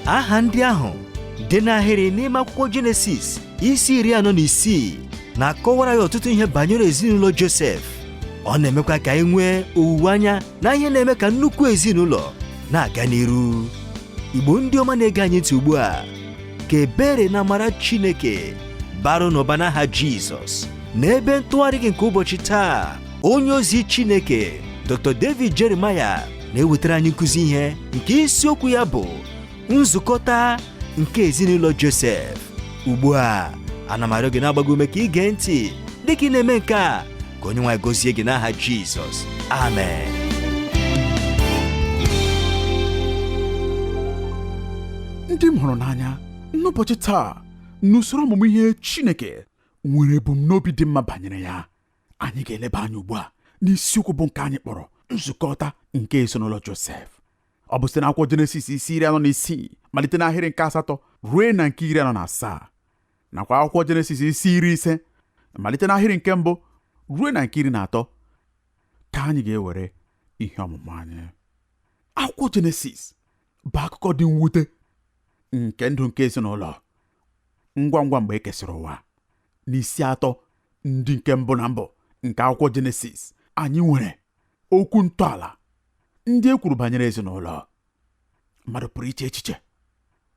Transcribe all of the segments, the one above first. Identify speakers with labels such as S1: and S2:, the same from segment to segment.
S1: aha ndị ahụ dị n'ahịrị n'ime akwụkwọ jenesis isi iri anọ na isii na-akọwara ya ọtụtụ ihe banyere ezinụlọ josef ọ na-emekwa ka anyị nwee owuwe anya na ihe na-eme ka nnukwu ezinụlọ na-aga n'iru igbo ndị ọma na-ege anyị ntị ugbu a ka ebere na amara chineke baara unu ụba n'aha jizọs n'ebe ntụgharị gị nke ụbọchị taa onye ozi Chineke Dr. David Jeremiah na-ewetara anyị nkụzi ihe nke isiokwu ya bụ nzukọta nke ezinụlọ Josef ugbu a ana m arịọ gị na-agba gị ume ka ị gee ntị dịka ị na-eme nke a ka onye nwe anyị gọzie gị n'aha Jizọs
S2: amen ndị m hụrụ n'anya n'ụbọchị taa n'usoro ọmụmụ ihe Chineke nwere ebumnobi dị mma banyere ya anyị ga-eleba anya ugbu a n'isiokwu bụ nke anyị kpọrọ nzukọta nke ezinụlọ Josef ọ bụ site n'akwụkwọ Jenesis isi iri anọ na isii malite n'ahịrị nke asatọ ruo na nke iri anọ na asaa nakwa akwụkwọ Jenesis isi iri ise malite n'ahịrị nke mbụ ruo na nke iri na atọ ka anyị ga-ewere ihe ọmụmụ anyị akwụkwọ Jenesis bụ akụkọ dị mwute nke ndụ nke ezinụlọ ngwa ngwa mgbe e kesịrị ụwa n'isi atọ ndị nke mbụ na mbụ nke akwụkwọ jenesis anyị nwere okwu ntọala ndị e kwuru banyere ezinụlọ mmadụ pụrụ iche echiche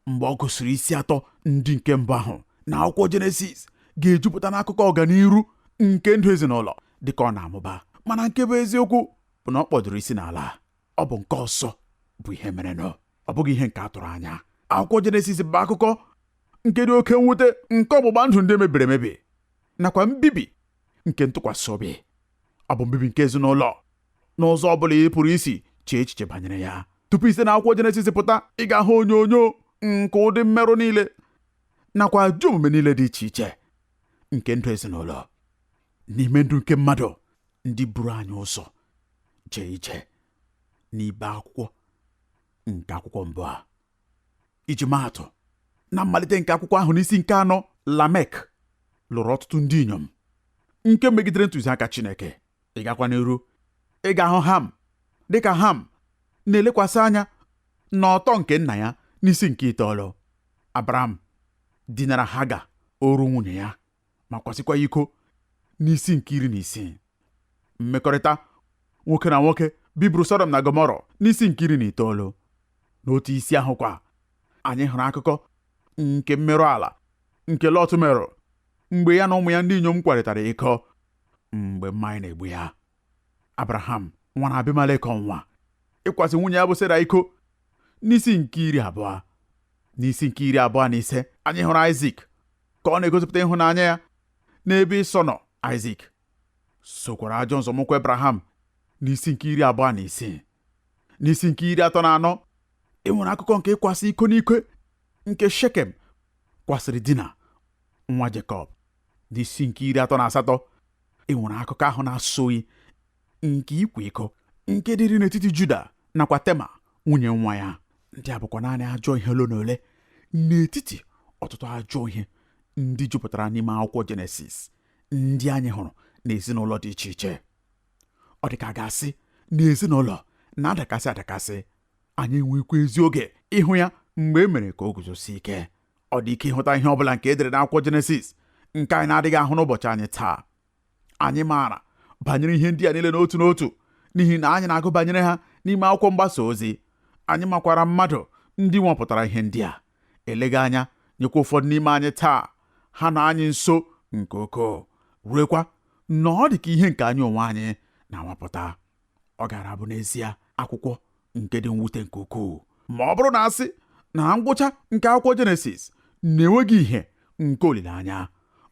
S2: mgbe ọ gụsịrị isi atọ ndị nke mbụ ahụ na akwụkwọ jenesis ga-ejupụta n'akụkọ ọganiru nke ndụ ezinụlọ dịka ọ na-amụba mana nke bụ eziokwu bụ na ọ kpọdụrụ isi n'ala ọ bụ nke ọzọ bụ ihe merenụ ọ bụghị ihe nke a tụrụ anya akwụkwọ jenesis bụ akụkọ nke dị oke mwute nke ọgbụgba ndụ ndị mebiri emebi nakwa mbibi nke ntụkwasị obi ọ bụ mbibi nke ezinụlọ n'ụzọ ọ bụla ị pụrụ isi chee echiche banyere ya tupu i si n'akwụkwọ jenesis pụta ị ga-ahụ onyonyo nke ụdị mmerụ niile nakwa ajọ omume niile dị iche iche nke ndụ ezinụlọ n'ime ndụ nke mmadụ ndị buru anyị ụzọ jee ije n'ibe akwụkwọ nke akwụkwọ mbụ a iji maa atụ na mmalite nke akwụkwọ ahụ n'isi nke anọ lamek lụrụ ọtụtụ ndị inyom nke megidere ntụziaka chineke ị gakwa n'iru ị ga-ahụ ham dịka ham na-elekwasị anya n'ọtọ nke nna ya n'isi nke itoolu abraham dinara haga oru nwunye ya ma kwasịkwa iko n'isi nke iri na isii mmekọrịta nwoke na nwoke bibiri Sọdọm na Gọmọrọ n'isi nke iri na itoolu n'otu isi ahụ kwa anyị hụrụ akụkọ nke mmerụ ala nke Lọt merụ mgbe ya na ụmụ ya ndị inyom kwarịtara iko mgbe mmanya na-egbu ya abraham nwara abimelek ọnwa ịkwasị nwunye ya bụ sera iko n'isi nke iri abụọ n'isi nke iri abụọ na ise anyị hụrụ aịzik ka ọ na-egosipụta ịhụnanya ya n'ebe ịsọ nọ aịzik sokwara ajọ nzọmụkwụ abraham n'isi nke iri abụọ na isii n'isi nke iri atọ na anọ e nwere akụkọ nke ịkwasị iko n'ike nke shekem kwasịrị dina nwa jekọb n'isi nke iri atọ na asatọ e nwere akụkọ ahụ na-asọ oyi nke ịkwa iko nke dịrị n'etiti Juda nakwa Tema nwunye nwa ya ndị a bụkwa naanị ajọ ihe ole na ole n'etiti ọtụtụ ajọ ihe ndị jupụtara n'ime akwụkwọ Jenesis ndị anyị hụrụ n'ezinụlọ dị iche iche ọ dị ka a ga-asị na ezinụlọ na-adakasị adakasị anyị enweghịkwa ezi oge ịhụ ya mgbe e mere ka o guzosie ike ọ dị ike ịhụta ihe ọ bụla nke e dere n'akwụkwọ jenesis nke anyị na-adịghị ahụ n'ụbọchị anyị taa anyị maara banyere ihe ndị a niile n'otu n'otu n'ihi na anyị na-agụ banyere ha n'ime akwụkwọ mgbasa ozi anyị makwara mmadụ ndị nwapụtara ihe ndị a eleghị anya nyekwa ụfọdụ n'ime anyị taa ha nọ anyị nso nke ukwuu ruekwa na ọ dị ka ihe nke anyị onwe anyị na-anwapụta ọ gaara abụ n'ezie akwụkwọ nke dị mwute nke ukwuu ma ọ bụrụ na a sị na ngwụcha nke akwụkwọ jenesis na e nweghị ihe nke olileanya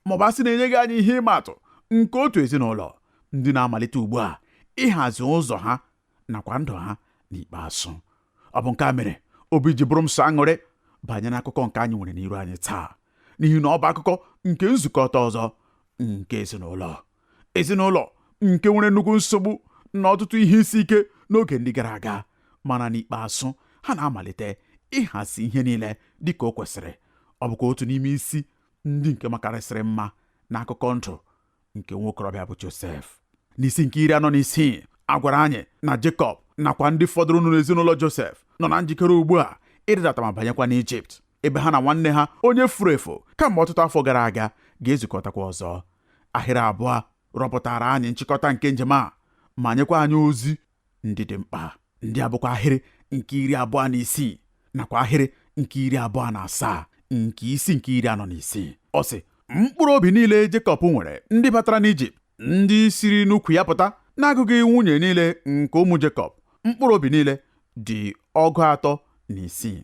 S2: ma ọ bụ a sị na e nyeghị anyị ihe ịma atụ nke otu ezinụlọ ndị na-amalite ugbu a ịhazi ụzọ ha nakwa ndụ ha n'ikpeazụ ọ bụ nke a mere obi ji bụrụ m sọ aṅụrị banyere akụkọ nke anyị nwere n'iru anyị taa n'ihi na ọ bụ akụkọ nke nzukọta ọzọ nke ezinụlọ ezinụlọ nke nwere nnukwu nsogbu na ọtụtụ ihe isi ike n'oge ndị gara aga mana n'ikpeazụ ha na-amalite ịhazi ihe niile dị ka o kwesịrị ọ bụkwa otu n'ime isi ndị nke makarịsịrị mma n'akụkọ ndụ nke nwokorobịa bụ Josef n'isi nke iri anọ na isii a gwara anyị na Jekọb nakwa ndị fọdụrụnụ n'ezinụlọ Josef nọ na njikere ugbu a ịrịdata ma banyekwa n'Ijipt ebe ha na nwanne ha onye furu efu kamgbe ọtụtụ afọ gara aga ga-ezukọtakwa ọzọ ahịrị abụọ rọpụtara anyị nchịkọta nke njem a ma nyekwa anyị ozi ndị dị mkpa ndị a bụkwa ahịrị nke iri abụọ na isii nakwa ahịrị nke iri abụọ na asaa nke isi nke iri anọ na isii ọ sị mkpụrụ obi niile Jekọb nwere ndị batara n'Ijipt ndị siri n'ukwu ya pụta n'agụghị nwunye niile nke ụmụ Jekọb mkpụrụ obi niile dị ọgụ atọ na isii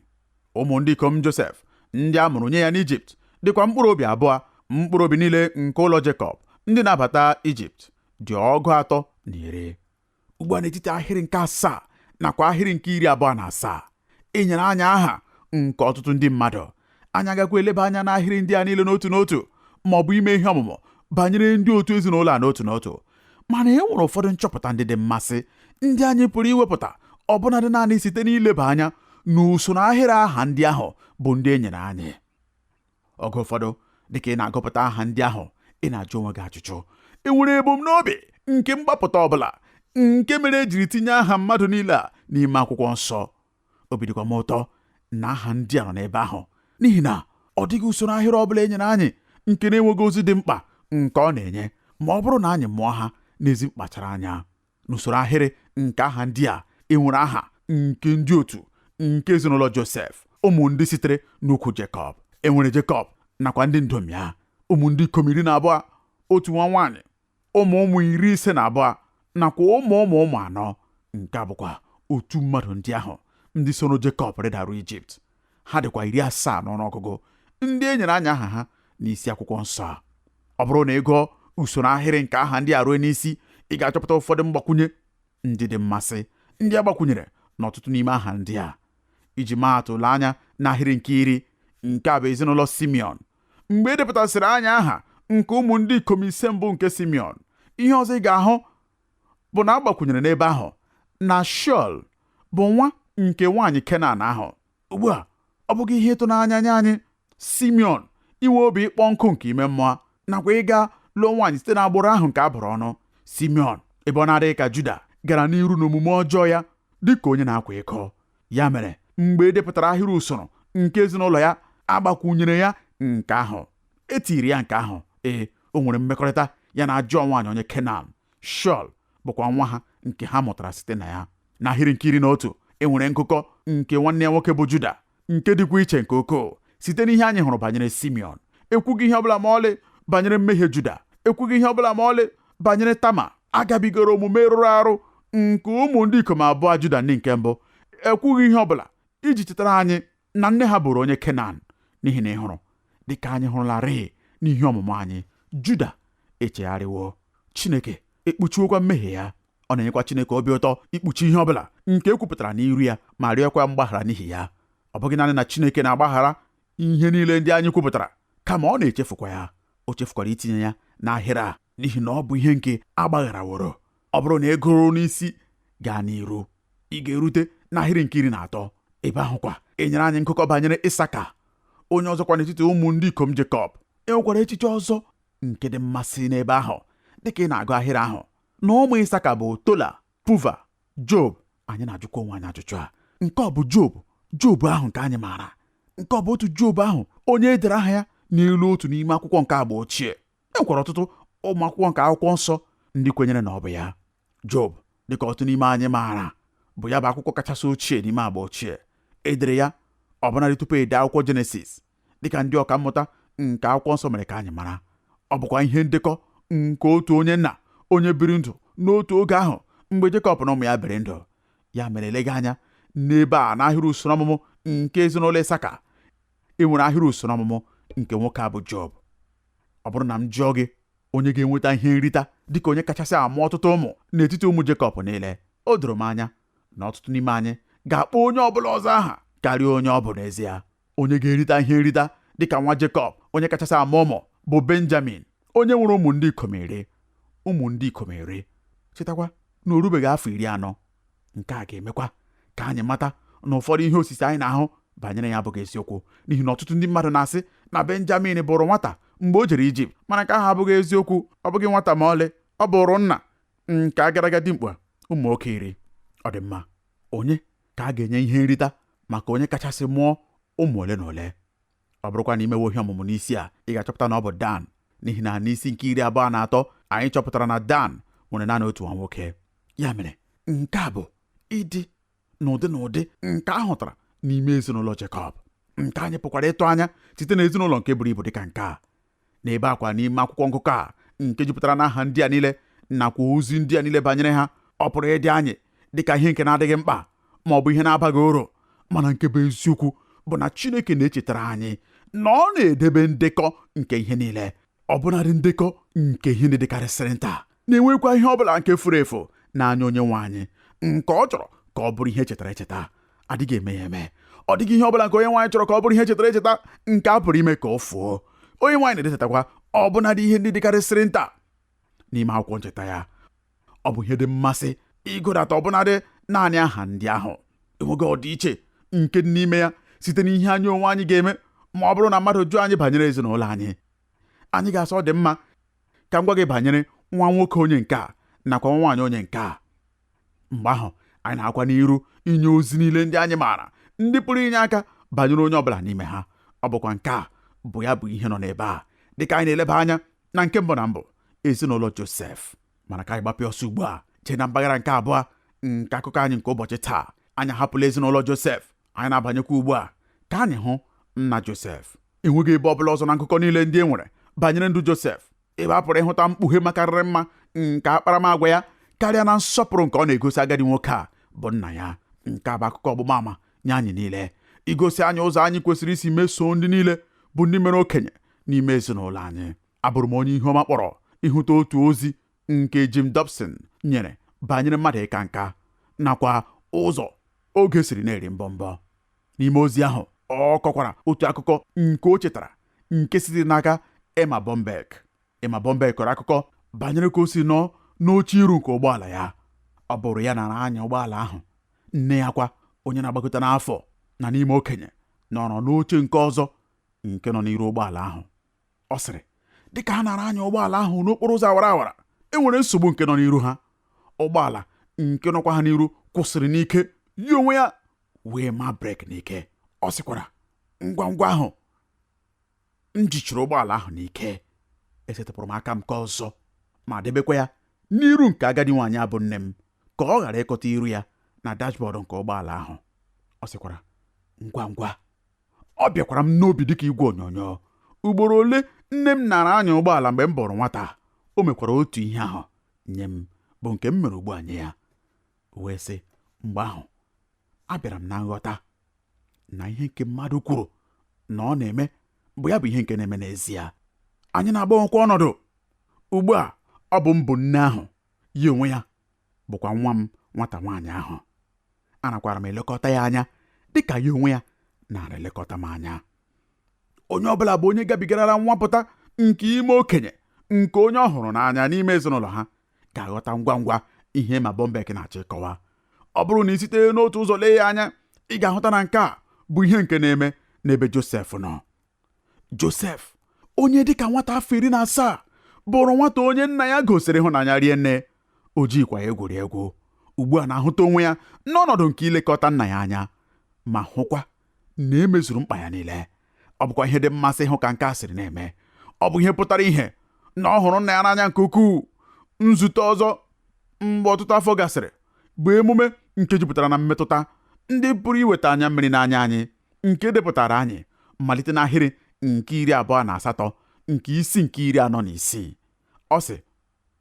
S2: ụmụ ndị ikom Josef ndị a mụrụ nye ya n'Ijipt dịkwa mkpụrụ obi abụọ mkpụrụ obi niile nke ụlọ Jekọb ndị na-abata Ijipt dị ọgụ atọ na iri ugbu a n'etiti ahịrị nke asaa nakwa ahịrị nke iri abụọ na asaa e nyere anyị aha nke ọtụtụ ndị mmadụ anyị agakwa eleba anya n'ahịrị ndị a niile n'otu n'otu ma ọ bụ ime ihe ọmụmụ banyere ndị otu ezinụlọ a n'otu n'otu mana e nwere ụfọdụ nchọpụta ndị dị mmasị ndị anyị pụrụ iwepụta ọbụnadị naanị site n'ileba anya n'usoro ahịrị aha ndị ahụ bụ ndị e nyere anyị oge ụfọdụ dịka ị na-agụpụta aha ndị ahụ ị na-ajụ onwe gị ajụjụ e nwere ebumnobi nke mgbapụta ọbụla nke mere ejiri tinye aha mmadụ niile a n'ime akwụkwọ nsọ obi dịkwa m ụtọ na aha ndị a nọ n'ebe ahụ n'ihi na ọ dịghị usoro ahịrị ọ bụla e nyere anyị nke na-enweghị ozi dị mkpa nke ọ na-enye ma ọ bụrụ na anyị mụọ ha n'ezi mkpachara anya n'usoro ahịrị nke aha ndị a e nwere aha nke ndị otu nke ezinụlọ Josef ụmụ ndị sitere n'ukwu Jekọb enwere Jekọb nakwa ndị ndom ya ụmụ ndị ikom iri na abụọ otu nwa nwaanyị ụmụ ụmụ iri ise na abụọ nakwa ụmụ ụmụ ụmụ anọ nke a bụkwa otu mmadụ ndị ahụ ndị soro Jekọb rịdaru Ijipt ha dịkwa iri asaa n'ọnụọgụgụ ndị e nyere anyị aha ha n'isi akwụkwọ nsọ a ọ bụrụ na ị gụọ usoro ahịrị nke aha ndị a ruo n'isi ị ga-achọpụta ụfọdụ mgbakwunye ndị dị mmasị ndị agbakwunyere n'ọtụtụ n'ime aha ndị a iji maa atụ lee anya n'ahịrị nke iri nke a bụ ezinụlọ simeon mgbe e depụtasịrị anyị aha nke ụmụ ndị ikom ise mbụ nke simeon ihe ọzọ ị ga-ahụ bụ na agbakwunyere n'ebe ahụ na shol bụ nwa nke nwaanyị kenan ahụ ugbu a ọ bụghị ihe ịtụnanya nye anyị simeon inwe obi ịkpọ nkụ nke ime mmụọ nakwa ịga lụọ nwaanyị site n'agbụrụ ahụ nke a bụrụ ọnụ simeon ebe ọ na-adịghị ka juda gara n'iru n'omume ọjọọ ya dị ka onye na-akwa iko ya mere mgbe e depụtara ahịrị usoro nke ezinụlọ ya agbakwunyere ya nke ahụ etiri ya nke ahụ ee o nwere mmekọrịta ya na ajọ nwaanyị onye kenan shọl bụkwa nwa ha nke ha mụtara site na ya n'ahịrị nke iri na otu e nwere ngụkọ nke nwanne ya nwoke bụ Juda nke dịkwa iche nke ukwuu site n'ihe anyị hụrụ banyere Simeon ekwughị ihe ọbụla ma ọlị banyere mmehie Juda ekwughị ihe ọbụla ma ọlị banyere Tama agabigara omume rụrụ arụ nke ụmụ ndị ikom abụọ Juda ndị nke mbụ ekwughị ihe ọbụla iji chetara anyị na nne ha bụrụ onye kenan n'ihi na ị hụrụ dịka anyị hụrụlarịị n'ihe ọmụmụ anyị juda echegharịwo chineke ekpuchiwokwa mmehie ya ọ na-enyekwa chineke obi ụtọ ikpuchi ihe ọbụla nke ekwupụtara n'iru ya ma rịọkwa mgbaghara n'ihi ya ọ bụghị naanị na chineke na-agbaghara ihe niile ndị anyị kwupụtara kama ọ na-echefukwa ya o chefukwara itinye ya n'ahịrị a n'ihi na ọ bụ ihe nke agbagharaworo ọ bụrụ na ị gụrụ n'isi gaa n'iru ị ga-erute n'ahịrị nke iri na atọ ebe ahụ kwa enyere anyị ngụkọ banyere isaka onye ọzọkwa n'etiti ụmụ ndị ikom jekọb e nwekwara echiche ọzọ nke dị mmasị n'ebe ahụ dịka ị na-agụ ahịrị ahụ na ụmụ isaka bụ tola puva job anyị na-ajụkwa onwe anyị ajụjụ a nke ọ bụ job job ahụ nke anyị maara nke ọ bụ otu job ahụ onye e dere aha ya n'elu otu n'ime akwụkwọ nke agba ochie e nwekwara ọtụtụ ụmụ akwụkwọ nke akwụkwọ nsọ ndị kwenyere na ọ bụ ya Job dịka ọtụtụ n'ime anyị maara bụ ya bụ akwụkwọ kachasị ochie n'ime agba ochie edere ya ọbụnadị tupu ede akwụkwọ jenesis dịka ndị ọka mmụta nke akwụkwọ nsọ mere ka anyị mara ọ bụkwa ihe ndekọ nke otu onye nna onye biri ndụ n'otu oge ahụ mgbe Jekọb na ụmụ ya biri ndụ ya mere eleghị anya n'ebe a n'ahịrị usoro ọmụmụ nke ezinụlọ Isaka e nwere ahịrị usoro ọmụmụ nke nwoke a bụ Job ọ bụrụ na m jụọ gị onye ga-enweta ihe nrita dịka onye kachasị amụ ọtụtụ ụmụ n'etiti ụmụ Jekọb niile o doro m anya na ọtụtụ n'ime anyị ga-akpọ onye ọbụla ọzọ aha karịa onye ọ bụ n'ezie onye ga-erita ihe nrita dịka nwa Jekọb onye kachasị amụ ụmụ bụ Benjamin onye nwere ụmụ ndị ikom iri ụmụ ndị ikom iri chetakwa na o rubeghị afọ iri anọ nke a ga-emekwa ka anyị mata na ụfọdụ ihe osise anyị na-ahụ banyere ya abụghị eziokwu n'ihi na ọtụtụ ndị mmadụ na-asị na benjamin bụrụ nwata mgbe o jere ijipt mana nke ahụ abụghị eziokwu ọ bụghị nwata ma ọlị ọ bụrụ nna nke agadaga dimkpa ụmụ nwoke iri ọ dị mma onye ka a ga-enye ihe nrita maka onye kachasị mụọ ụmụ ole na ole ọ bụrụkwa na i mewe ihe ọmụmụ n'isi a ị ga-achọpụta na ọ bụ Dan n'ihi na n'isi nke iri abụọ na atọ anyị chọpụtara na Dan nwere naanị otu nwa nwoke ya mere nke a bụ ịdị n'ụdị na ụdị nke a hụtara n'ime ezinụlọ Jekọb nke anyị pụkwara ịtụ anya site na ezinụlọ nke buru ibu dịka nke a n'ebe a kwa n'ime akwụkwọ ngụkọ a nke jupụtara n'aha ndị a niile nakwa ozi ndị a niile banyere ha ọ pụrụ ịdị anyị dịka ihe nke na-adịghị mkpa ma ọ bụ ihe na-abaghị uru mana nke bụ eziokwu bụ na Chineke na-echetara anyị na ọ na-edebe ndekọ nke ihe niile ọbụnadị ndekọ nke ihe ndị dịkarịsịrị nta na-enwekwa ihe ọ bụla nke furu efu n'anya onye nwe anyị nke ọ chọrọ ka ọ bụrụ ihe echetara echeta adịghị eme ya eme ọ dịghị ihe ọ bụla nke onye nwe anyị chọrọ ka ọ bụrụ ihe echetara echeta nke a pụrụ ime ka ọ fuo onye nwe anyị na-edetakwa ọbụnadị ihe ndị dịkarịsịrị nta n'ime akwụkwọ ncheta ya ọ bụ ihe dị mmasị ịgụdata ọbụnadị naanị aha ndị ahụ enweghị ọdịiche nke dị n'ime ya site n'ihe anyị onwe anyị ga-eme ma ọ bụrụ na mmadụ jụọ anyị banyere ezinụlọ anyị anyị ga-asị ọ dị mma ka m gwa gị banyere nwa nwoke onye nke a nakwa nwa nwaanyị onye nke a mgbe ahụ anyị na-agakwa n'iru inye ozi niile ndị anyị maara ndị pụrụ inye aka banyere onye ọbụla n'ime ha ọ bụkwa nke a bụ ya bụ ihe nọ n'ebe a dịka anyị na-eleba anya na nke mbụ na mbụ ezinụlọ Josef mana ka anyị gbapịa ọsọ ugbu a jee na mpaghara nke abụọ nke akụkọ anyị nke ụbọchị taa anyị ahapụla ezinụlọ Josef anyị na-abanyekwa ugbu a ka anyị hụ nna Josef enweghị ebe ọbụla ọzọ na nkụkọ niile ndị e nwere banyere ndụ Josef ebe a pụrụ ịhụta mkpughe makarịrị mma nke akparamagwa ya karịa na nsọpụrụ nke ọ na-egosi agadi nwoke a bụ nna ya nke a bụ akụkọ ọgbụgba ama nye anyị niile igosi anyị ụzọ anyị kwesịrị isi mesoo ndị niile bụ ndị mere okenye n'ime ezinụlọ anyị abụrụ m onye ihu ọma kpọrọ ịhụta otu ozi nke Jim Dobson nyere banyere mmadụ ịka nka nakwa ụzọ oge siri na-eri mbọmbọ n'ime ozi ahụ ọ kọkwara otu akụkọ nke o chetara nke sitere n'aka Erma Bombeck Erma Bombeck kọrọ akụkọ banyere ka o siri nọ n'oche iru nke ụgbọala ya ọ bụrụ ya nara anya ụgbọala ahụ nne ya kwa onye na-agbakọta n'afọ na n'ime okenye nọrọ n'oche nke ọzọ nke nọ n'iru ụgbọala ahụ ọ sịrị dịka ha nara anya ụgbọala ahụ n'okporo ụzọ awara awara e nwere nsogbu nke nọ n'iru ha ụgbọala nke nọkwa ha n'iru kwụsịrị n'ike ya onwe ya wee ma brake n'ike ọ sịkwara ngwa ngwa ahụ m jichiri ụgbọala ahụ n'ike esetịpụrụ m aka m nke ọzọ ma debekwa ya n'iru nke agadi nwaanyị a bụ nne m ka ọ ghara ịkọta iru ya na dashboard nke ụgbọala ahụ ọ sịkwara ngwa ngwa ọ bịakwara m n'obi dịka igwe onyonyo ugboro ole nne m nara anya ụgbọala mgbe m bụrụ nwata o mekwara otu ihe ahụ nye m bụ nke m mere ugbu a nye ya wee sị mgbe ahụ abịara m na nghọta na ihe nke mmadụ kwuru na ọ na-eme bụ ya bụ ihe nke na-eme n'ezie anyị na-agbanwekwa ọnọdụ ugbu a ọ bụ m bụ nne ahụ ya onwe ya bụkwa nwa m nwata nwaanyị ahụ anakwara m elekọta ya anya dị ka ya onwe ya nara elekọta m anya onye ọ bụla bụ onye gabigarara nwapụta nke ime okenye nke onye ọ hụrụ n'anya n'ime ezinụlọ ha ga-aghọta ngwa ngwa ihe Erma Bombeck na-achọ ịkọwa ọ bụrụ na ị site n'otu ụzọ lee ya anya ị ga-ahụta na nke a bụ ihe nke na-eme n'ebe Josef nọ Josef onye dịka nwata afọ iri na asaa bụrụ nwata onye nna ya gosiri ịhụnanya rie nne o jikwa ya egwuri egwu ugbu a na-ahụta onwe ya n'ọnọdụ nke ilekọta nna ya anya ma hụkwa na e mezuru mkpa ya niile ọ bụkwa ihe dị mmasị ịhụ ka nke a siri na-eme ọ bụ ihe pụtara ihe na ọ hụrụ nna ya n'anya nke ukwuu nzute ọzọ mgbe ọtụtụ afọ gasịrị bụ emume nke jupụtara na mmetụta ndị pụrụ iweta anya mmiri n'anya anyị nke e depụtaara anyị malite n'ahịrị nke iri abụọ na asatọ nke isi nke iri anọ na isii ọ sị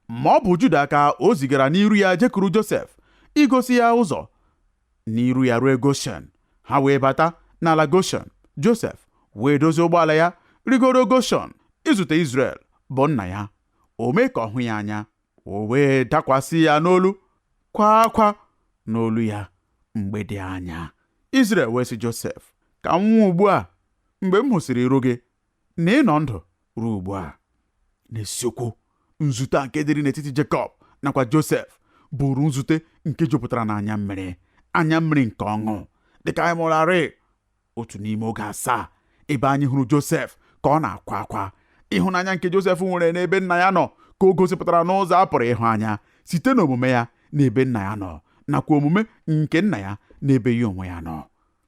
S2: ma ọ bụ Juda ka o zigara n'iru ya jekuru Josef igosi ya ụzọ n'iru ya ruo Goshen ha wee bata n'ala Goshen Josef wee dozie ụgbọala ya rigoro Goshen izute Izrel bụ nna ya o mee ka ọ hụ ya anya o wee dakwasị ya n'olu kwa akwa n'olu ya mgbe dị anya Izrel wee sị Josef ka m nwụọ ugbu a mgbe m hụsịrị iru gị na ị nọ ndụ ruo ugbu a n'isiokwu nzute a nke dịrị n'etiti Jekọb nakwa Josef bụrụ nzute nke jupụtara n'anya mmiri anya mmiri nke ọṅụ dịka anyị mụrarị otu n'ime oge asaa ebe anyị hụrụ Josef ka ọ na-akwa akwa ịhụnanya nke Josef nwere n'ebe nna ya nọ ka o gosipụtara n'ụzọ a pụrụ ịhụ anya site n'omume ya n'ebe nna ya nọ nakwa omume nke nna ya n'ebe ya onwe ya nọ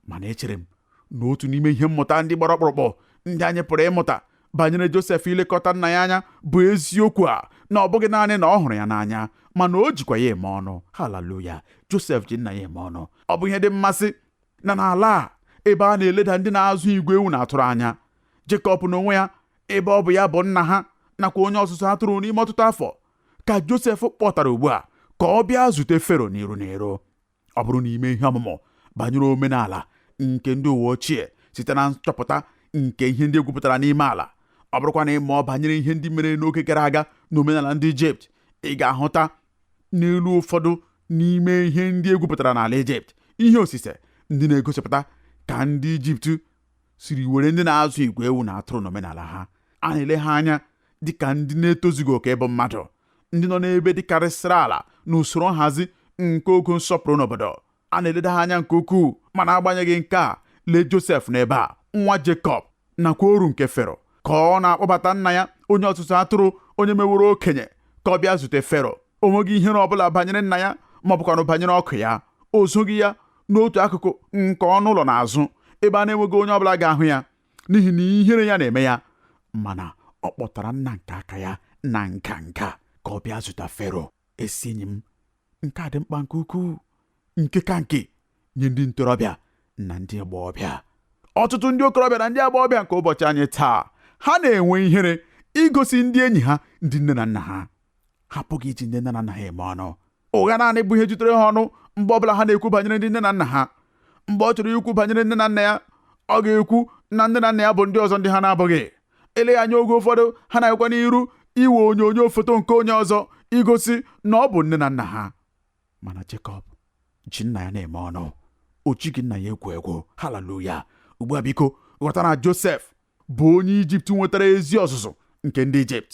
S2: mana echere m na otu n'ime ihe mmụta ndị gbara ọkpụrụkpụ ndị anyị pụrụ ịmụta banyere Josef ilekọta nna ya anya bụ eziokwu a na ọ bụghị naanị na ọ hụrụ ya n'anya mana o jikwa ya eme ọnụ haleluya Josef ji nna ya eme ọnụ ọ bụ ihe dị mmasị na n'ala a ebe a na-eleda ndị na-azụ igwe ewu na atụrụ anya Jekọb n'onwe ya ebe ọ bụ ya bụ nna ha nakwa onye ọzụzụ atụrụ n'ime ọtụtụ afọ ka Josef kpọtara ugbu a ka ọ bịa zute Fero n'iru n'iru ọ bụrụ na i mee ihe ọmụmụ banyere omenala nke ndị ụwa ochie site na nchọpụta nke ihe ndị e gwupụtara n'ime ala ọ bụrụkwa na ị mụọ banyere ihe ndị mere n'oge gara aga na omenala ndị Ijipt ị ga-ahụta n'elu ụfọdụ n'ime ihe ndị e gwupụtara n'ala Ijipt ihe osise ndị na-egosipụta ka ndị Ijipt siri were ndị na-azụ igwe ewu na atụrụ n'omenala ha a na-ele ha anya dị ka ndị na-etozughị oke ịbụ mmadụ ndị nọ n'ebe dịkarịsịrị ala n'usoro nhazi nke ogo nsọpụrụ n'obodo a na-eleda ha anya nke ukwuu mana agbanyeghị nke a lee Josef n'ebe a nwa Jekọb nakwa oru nke Fero ka ọ na-akpọbata nna ya onye ọzụzụ atụrụ onye meworo okenye ka ọ bịa zute Fero o nweghị ihere ọ bụla banyere nna ya ma ọ bụkwanụ banyere ọkụ ya o zoghị ya n'otu akụkụ nke ọnụ ụlọ n'azụ ebe a na-enweghị onye ọbụla ga-ahụ ya n'ihi na ihere ya na-eme ya mana ọ kpọtara nna nke aka ya na nganga ka ọ bịa zute Fero ezi enyi m nke a dị mkpa nke ukwuu nke ka nke nye ndị ntorobịa na ndị agbọghọbịa ọtụtụ ndị okorobịa na ndị agbọghọbịa nke ụbọchị anyị taa ha na-enwe ihere igosi ndị enyi ha ndị nne na nna ha ha apụghị iji ndị nne na nna ha eme ọnụ ụgha naanị bụ ihe jutere ha ọnụ mgbe ọbụla ha na-ekwu banyere ndị nne na nna ha mgbe ọ chọrọ ikwu banyere nne na nna ya ọ ga-ekwu na nne na nna ya bụ ndị ọzọ ndị ha na-abụghị eleghị anya oge ụfọdụ ha na-agakwa n'iru iwe onyonyo foto nke onye ọzọ igosi na ọ bụ nne na nna ha mana Jekọb ji nna ya na-eme ọnụ o jighị nna ya egwu egwu haleluya ugbu a biko ghọta na Josef bụ onye Ijipt nwetara ezi ọzụzụ nke ndị Ijipt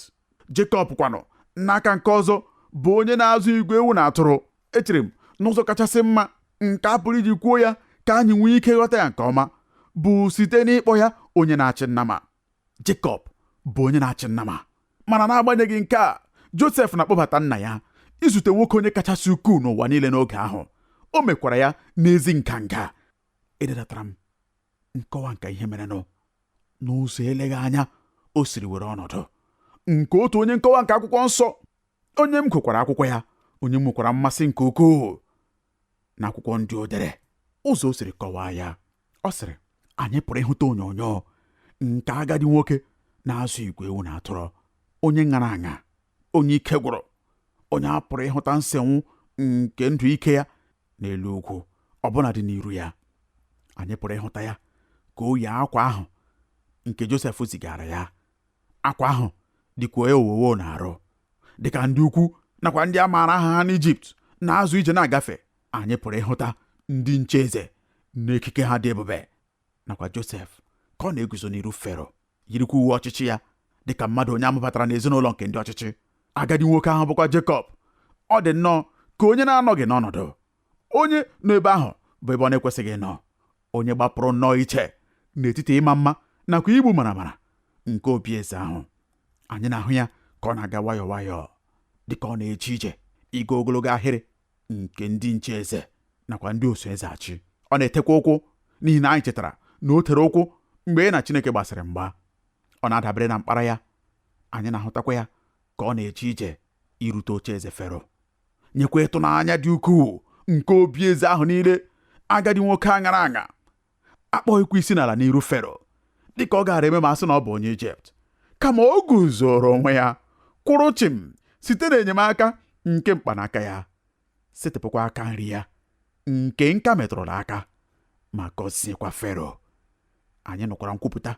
S2: Jekọb kwanụ n'aka nke ọzọ bụ onye na-azụ igwe ewu na atụrụ echere m n'ụzọ kachasị mma nke a pụrụ iji kwuo ya ka anyị nwee ike ghọta ya nke ọma bụ site n'ịkpọ ya onye na-achị nnama Jekọb bụ onye na-achị nnama mana n'agbanyeghị nke a Josef na-akpọbata nna ya izute nwoke onye kachasị ukwuu n'ụwa niile n'oge ahụ o mekwara ya n'ezi nganga ededatara m nkọwa nke ihe merenụ n'ụzọ eleghị anya o siri were ọnọdụ nke otu onye nkọwa nke akwụkwọ nsọ onye m gụkwara akwụkwọ ya onye m nwekwara mmasị nke ukwuu n'akwụkwọ ndị o dere ụzọ o siri kọwaa ya ọ sịrị anyị pụrụ ịhụta onyonyo nke agadi nwoke na-azụ igwe ewu na atụrụ onye ṅara aṅa onye ike gwụrụ onye a pụrụ ịhụta nsenwu nke ndụ ike ya n'elu ugwu ọbụna dị n'iru ya anyị pụrụ ịhụta ya ka o yi akwa ahụ nke Josef zigaara ya akwa ahụ dịkwa ya owowo n'arụ dịka ndị ukwu nakwa ndị a maara aha ha n'Ijipt na-azọ ije na-agafe anyị pụrụ ịhụta ndị nche eze n'ekike ha dị ebube nakwa Josef ka ọ na-eguzo n'iru Fero yirikwa uwe ọchịchị ya dị ka mmadụ onye a mụbatara n'ezinụlọ nke ndị ọchịchị agadi nwoke ahụ bụkwa Jekọb ọ dị nnọọ ka onye na-anọghị n'ọnọdụ onye nọ ebe ahụ bụ ebe ọ na-ekwesịghị ịnọ onye gbapụrụ nnọọ iche n'etiti ịma mma nakwa igbu maramara nke obi eze ahụ anyị na-ahụ ya ka ọ na-aga nwayọọ nwayọọ dị ka ọ na-eje ije ịga ogologo ahịrị nke ndị nche eze nakwa ndị oso eze achị ọ na-etekwa ụkwụ n'ihi na anyị chetara na o tere ụkwụ mgbe ya na Chineke gbasịrị mgba ọ na-adabere na mkpara ya anyị na-ahụtakwa ya ka ọ na-eje ije irute oche eze Fero nyekwa ịtụnanya dị ukwuu nke obi eze ahụ niile agadi nwoke a ṅara aṅa akpọghịkwa isi n'ala n'iru Fero dịka ọ gaara eme ma a sị na ọ bụ onye Ijipt kama o guzoro onwe ya kwụrụ chịm site n'enyemaka nke mkpanaka ya setịpụkwa aka nri ya nke nka metụrụ aka ma gọziekwa Fero anyị nụkwara nkwupụta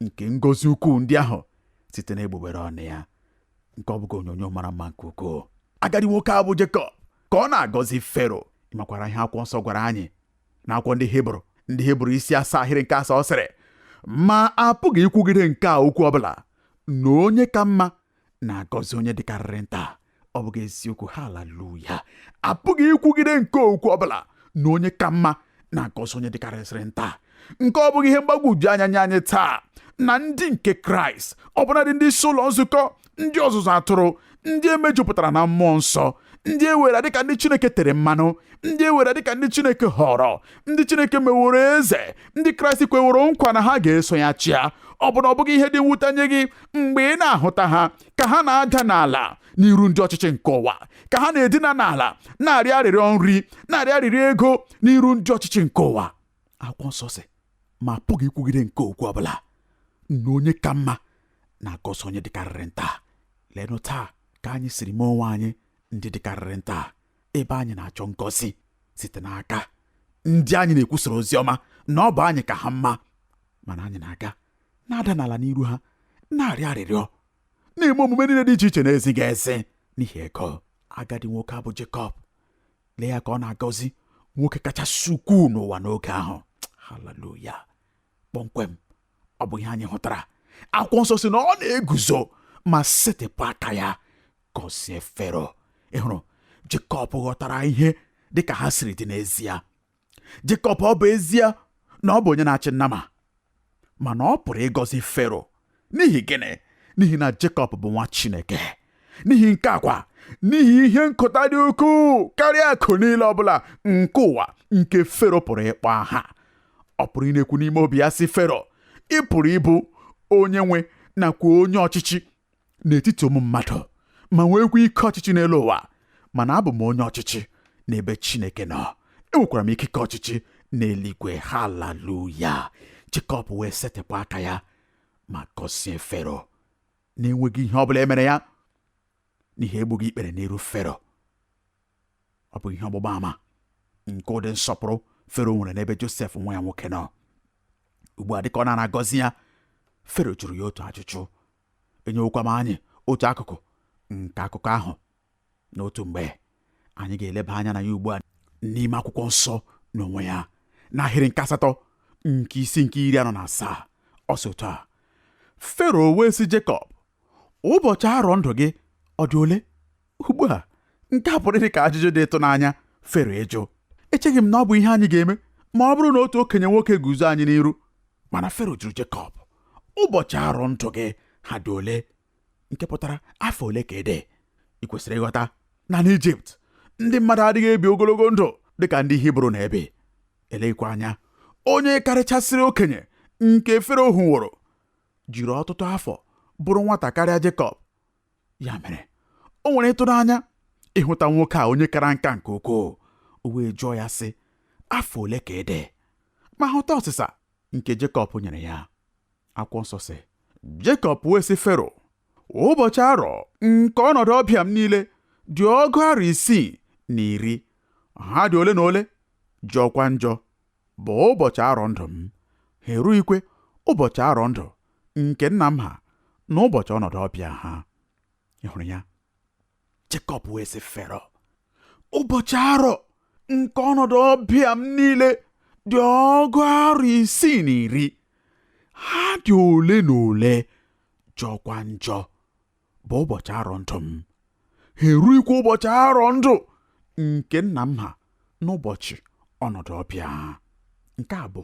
S2: nke ngọzi ukwuu ndị ahụ site n'egbugbere ọnụ ya nke ọ bụghị onyonyo mara mma nke ukwuu agadi nwoke a bụ Jekọb ka ọ na-agọzi Fero ị makwara ihe akwụkwọ nsọ gwara anyị n'akwụkwọ ndị Hibru ndị Hibru isi asaa ahịrị nke asaa ọ sịrị ma a pụghị ikwugide nke a okwu ọbụla na onye ka mma na-agọzi onye dịkarịrị nta ọ bụghị eziokwu haleluya a pụghị ikwugide nke okwu ọbụla na onye ka mma na-agọzi onye dịkarịsịrị nta nke ọ bụghị ihe mgbagwoju anya nye anyị taa na ndị nke Kraịst ọbụnadị ndị isi ụlọ nzukọ ndị ọzụzụ atụrụ ndị emejupụtara na mmụọ nsọ ndị e were dịka ndị Chineke tere mmanụ ndị e were dịka ndị Chineke họrọ ndị Chineke meworo eze ndị Kraịst kweworo nkwa na ha ga-eso ya chịa ọ bụ na ọ bụghị ihe dị mwute nye gị mgbe ị na-ahụta ha ka ha na-ada n'ala n'iru ndị ọchịchị nke ụwa ka ha na-edina n'ala na-arịọ arịrịọ nri na-arịọ arịrịọ ego n'iru ndị ọchịchị nke ụwa akwụkwọ nsọ sị ma apụghị ikwugide nke okwu ọbụla na onye ka mma na-agọzi onye dịkarịrị nta leenụ taa ka anyị siri mee onwe anyị ndị dịkarịrị nta ebe anyị na-achọ ngọzi site n'aka ndị anyị na-ekwusara ozi ọma na ọ bụ anyị ka ha mma mana anyị na-aga na-ada n'ala n'iru ha na-arịọ arịrịọ na-eme omume niile dị iche iche na-ezighị ezi n'ihi ego agadi nwoke a bụ Jekọb lee ya ka ọ na-agọzi nwoke kachasị ukwuu n'ụwa n'oge ahụ haleluya kpọmkwem ọ bụ ihe anyị hụtara akwụkwọ nsọ sị na ọ na-eguzo ma setịpụ aka ya gọzie fero ị hụrụ jekọb ghọtara ihe dị ka ha siri dị n'ezie jekọb ọ bụ ezie na ọ bụ onye na-achị nnama mana ọ pụrụ ịgọzi fero n'ihi gịnị n'ihi na jekọb bụ nwa chineke n'ihi nke a kwa n'ihi ihe nketa dị ukwuu karịa akụ niile ọbụla nke ụwa nke fero pụrụ ịkpọ aha ọ pụrụ ịna-ekwu n'ime obi ya sị Fero ị pụrụ ịbụ onye nwe nakwa onye ọchịchị n'etiti ụmụ mmadụ ma nweekwa ike ọchịchị n'elu ụwa mana abụ m onye ọchịchị n'ebe Chineke nọ enwekwara m ikike ọchịchị n'eluigwe haleluya Jekọb wee setịpụ aka ya ma gọzie Fero na-enweghị ihe ọ bụla emere ya n'ihi egbughị ikpere n'iru Fero ọ bụ ihe ọgbụgba ama nke ụdị nsọpụrụ fero nwere n'ebe josef nwa ya nwoke nọ ugbu a dịka ọ na-agọzi ya fero jụrụ ya otu ajụjụ enyewokwa m anyị otu akụkụ nke akụkọ ahụ n'otu mgbe anyị ga-eleba anya na ya ugbu a n'ime akwụkwọ nsọ n'onwe ya n'ahịrị nke asatọ nke isi nke iri anọ na asaa ọ sị otu a fero wee sị jekọb ụbọchị arọ ndụ gị ọ dị ole ugbu a nke a pụrụ ịdị ka ajụjụ dị ịtụnanya fero ịjụ echeghị m na ọ bụ ihe anyị ga-eme ma ọ bụrụ na otu okenye nwoke guzo anyị n'iru mana fero jụrụ Jekọb ụbọchị arọ ndụ gị ha dị ole nke pụtara afọ ole ka ị dị ị kwesịrị ịghọta na n'Ijipt ndị mmadụ adịghị ebi ogologo ndụ dị ka ndị Hibru na-ebi eleghịkwa anya onye karịchasịrị okenye nke fero hụworo jiri ọtụtụ afọ bụrụ nwata karịa Jekọb ya mere o nwere ịtụnanya ịhụta nwoke a onye kara nka nke ukwuu o wee jụọ ya sị afọ ole ka ị dị ma hụta ọsịsa nke Jekọb nyere ya akwụkwọ nsọ sị Jekọb wee sị Fero ụbọchị arọ nke ọnọdụ ọbịa m niile dị ọgụ arọ isii na iri ha dị ole na ole jọkwa njọ bụ ụbọchị arọ ndụ m, ha erughịkwa ụbọchị arọ ndụ nke nna m ha na ụbọchị ọnọdụ ọbịa ha. Ị hụrụ ya? Jekọb wee sị Fero, ụbọchị arọ nke ọnọdụ ọbịa m niile dị ọgụ arọ isii na iri. Ha dị ole na ole jọkwa njọ. bụ ụbọchị arọ ndụ m ha erughịkwa ụbọchị arọ ndụ nke nna m ha n'ụbọchị ọnọdụ ọbịa nke a bụ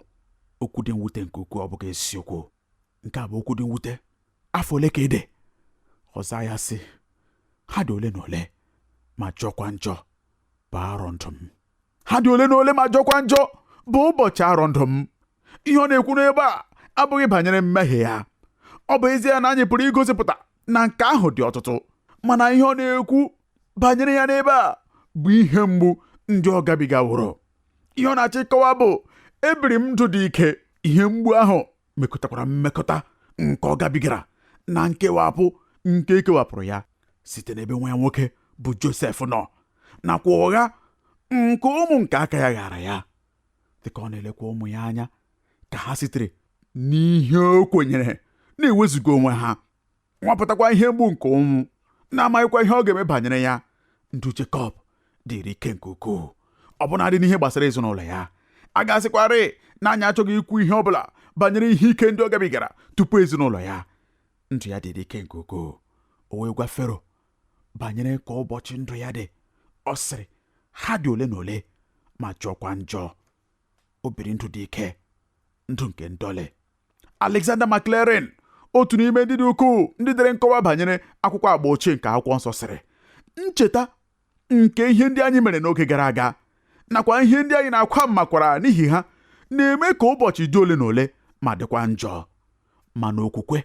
S2: okwu dị mwute nke ukwuu ọ bụghị eziokwu nke a bụ okwu dị mwute afọ ole ka ị dị ọ zaa ya sị ha dị ole na ole ma jọkwa njọ bụ arọ ndụ m ha dị ole na ole ma jọkwa njọ bụ ụbọchị arọ ndụ m ihe ọ na-ekwu n'ebe a abụghị banyere mmehie ya ọ bụ ezie na anyị pụrụ igosipụta na nke ahụ dị ọtụtụ mana ihe ọ na-ekwu banyere ya n'ebe a bụ ihe mgbu ndị ọ gabigaworo ihe ọ na-achọ ịkọwa bụ ebiri m ndụ dị ike ihe mgbu ahụ mekọtakwara mmekọta nke ọ gabigara na nkewapụ nke e kewapụrụ ya site n'ebe nwa ya nwoke bụ Josef nọ nakwa ụgha nke ụmụ nke aka ya ghaara ya dịka ọ na-elekwa ụmụ ya anya ka ha sitere n'ihe o kwenyere na-ewezuga onwe ha nwapụtakwa ihe mgbu nke ụnwụ na-amaghịkwa ihe ọ ga-eme banyere ya ndụ Jekọb dịrị ike nke ukwuu ọbụnadị n'ihe gbasara ezinụlọ ya a ga-asịkwarị na anyị achọghị ikwu ihe ọ bụla banyere ihe ike ndị ọ gabigara tupu ezinụlọ ya ndụ ya dịrị ike nke ukwuu o wee gwa Fero banyere ka ụbọchị ndụ ya dị ọ sịrị ha dị ole na ole ma jọkwa njọ o biri ndụ dị ike ndụ nke ndọlị Alexander McLaren otu n'ime ndị dị ukwuu ndị dere nkọwa banyere akwụkwọ agba ochie nke akwụkwọ nsọ sịrị ncheta nke ihe ndị anyị mere n'oge gara aga nakwa ihe ndị anyị na-akwa mmakwara n'ihi ha na-eme ka ụbọchị dị ole na ole ma dịkwa njọ mana okwukwe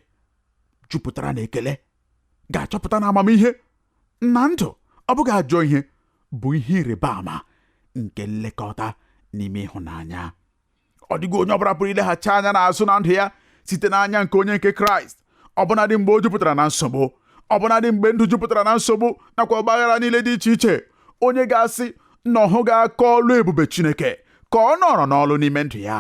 S2: jupụtara na ekele ga-achọpụta na amamihe na ndụ ọ bụghị ajọ ihe bụ ihe ịrịba ama nke nlekọta n'ime ịhụnanya ọ dịghị onye ọbụla pụrụ ileghachi anya n'azụ na ndụ ya site n'anya nke onye nke kraịst ọbụnadị mgbe o jupụtara na nsogbu ọbụnadị mgbe ndụ jupụtara na nsogbu nakwa ọgbaghara niile dị iche iche onye ga-asị na ọ hụghị aka ọlụ ebube chineke ka ọ nọrọ n'ọlụ n'ime ndụ ya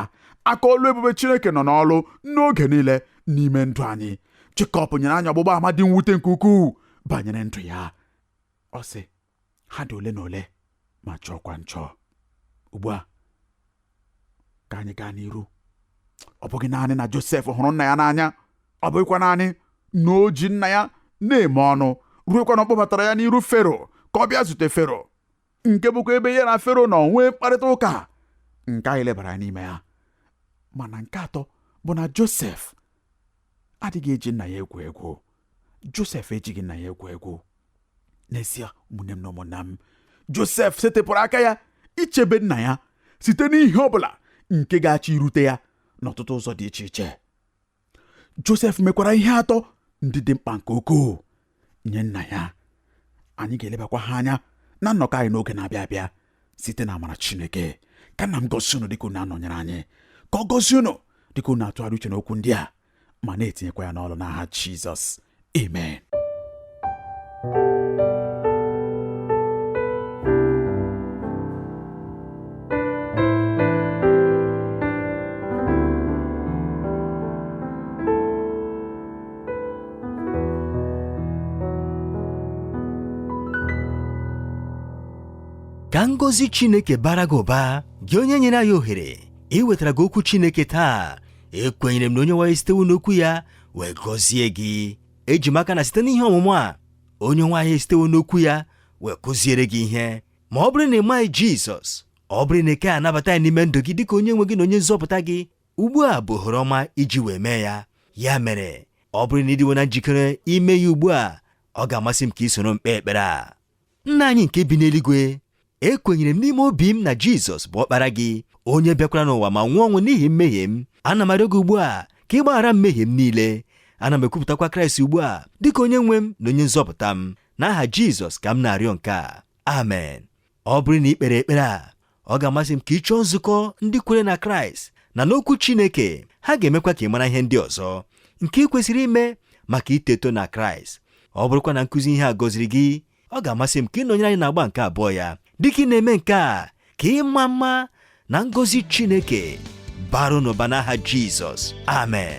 S2: aka ọlụ ebube chineke nọ n'ọlụ n'oge niile n'ime ndụ anyị Jekọb nyere anyị ọgbụgba ama dị mwute nke ukwuu banyere ndụ ya ọ sị ha dị ole na ole ma jọọkwa njọ ugbu a ka anyị gaa n'iru ọ bụghị naanị na Josef hụrụ nna ya n'anya ọ bụghịkwa naanị na o ji nna ya na-eme ọnụ ruekwa na ọ kpọbatara ya n'iru Fero ka ọ bịa zute Fero nke bụkwa ebe ya na fero nọ nwee mkparịta ụka nke anyị lebara anya n'ime ya mana nke atọ bụ na josef adịghị eji nna ya egwu egwu josef ejighị nna ya egwu egwu n'ezie ụmụnne m na ụmụnna m josef setịpụrụ aka ya ichebe nna ya site n'ihe ọ bụla nke ga-achọ irute ya n'ọtụtụ ụzọ dị iche iche Josef mekwara ihe atọ ndị dị mkpa nke ukwuu nye nna ya anyị ga-elebakwa ha anya na nnọkọ anyị n'oge na-abịa abịa site n'amara Chineke ka nna m gọzie unu dịka unu na-anọnyere anyị ka ọ gọzie unu dịka unu na-atụgharị uche n'okwu ndị a ma na-etinyekwa ya n'ọrụ n'aha Jizọs
S1: Amen. ka ngọzi chineke baara gị ụba gị onye nyere anyị ohere iwetara gị okwu chineke taa ekwenyere m na onye nwe anyị esitewo n'okwu ya wee gọzie gị eji m aka na site n'ihe ọmụmụ a onye nwe anyị esitewo n'okwu ya wee kụziere gị ihe ma ọ bụrụ na ị maghị jizọs ọ bụrụ na ị ka anabataghị ya n'ime ndụ gị dịka onye nwe gị na onye nzọpụta gị ugbu a bụ ohere ọma iji wee mee ya ya mere ọ bụrụ na ị dịwo na njikere ime ya ugbu a ọ ga-amasị m ka ị soro m kpee ekpere a nna anyị nke bi n'eluigwe ekwenyere m n'ime obi m na jizọs bụ ọkpara gị onye bịakwara n'ụwa ma nwụọ ọnwụ n'ihi mmehie m ana m arịọ gị ugbu a ka ị gbaghara mmehie m niile ana m ekwupụtakwa kraịst ugbu a dịka onye nwe m na onye nzọpụta m n'aha jizọs ka m na-arịọ nke a amen ọ bụrụ na ị kpere ekpere a ọ ga-amasị m ka ị chọọ nzukọ ndị kwere na kraịst na n'okwu chineke ha ga-emekwa ka ị mara ihe ndị ọzọ nke ị kwesịrị ime maka ito eto na kraịst ọ bụrụkwa na nkụzi ihe a gọziri gị ọ ga-amasị m ka ị nọnyere anyị n'agba nke abụọ ya dịka ị na-eme nke a ka ịma mma na ngọzi chineke baara unu ụba n'aha jizọs amen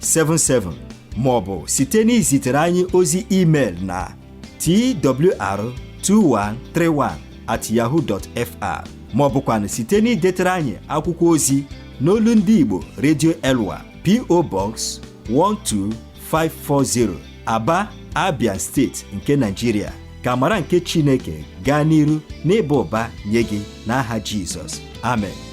S1: 77 ma ọ bụ site n'izitere anyị ozi email na twr2131 at yahoo dot fr ma ọ bụkwanụ site n'idetere anyị akwụkwọ ozi n'olu ndị Igbo Radio Elwa PO Box 12540 Aba Abia steeti nke Nigeria ka amara nke Chineke gaa n'iru n'ịba ụba nye gị n'aha Jizọs amen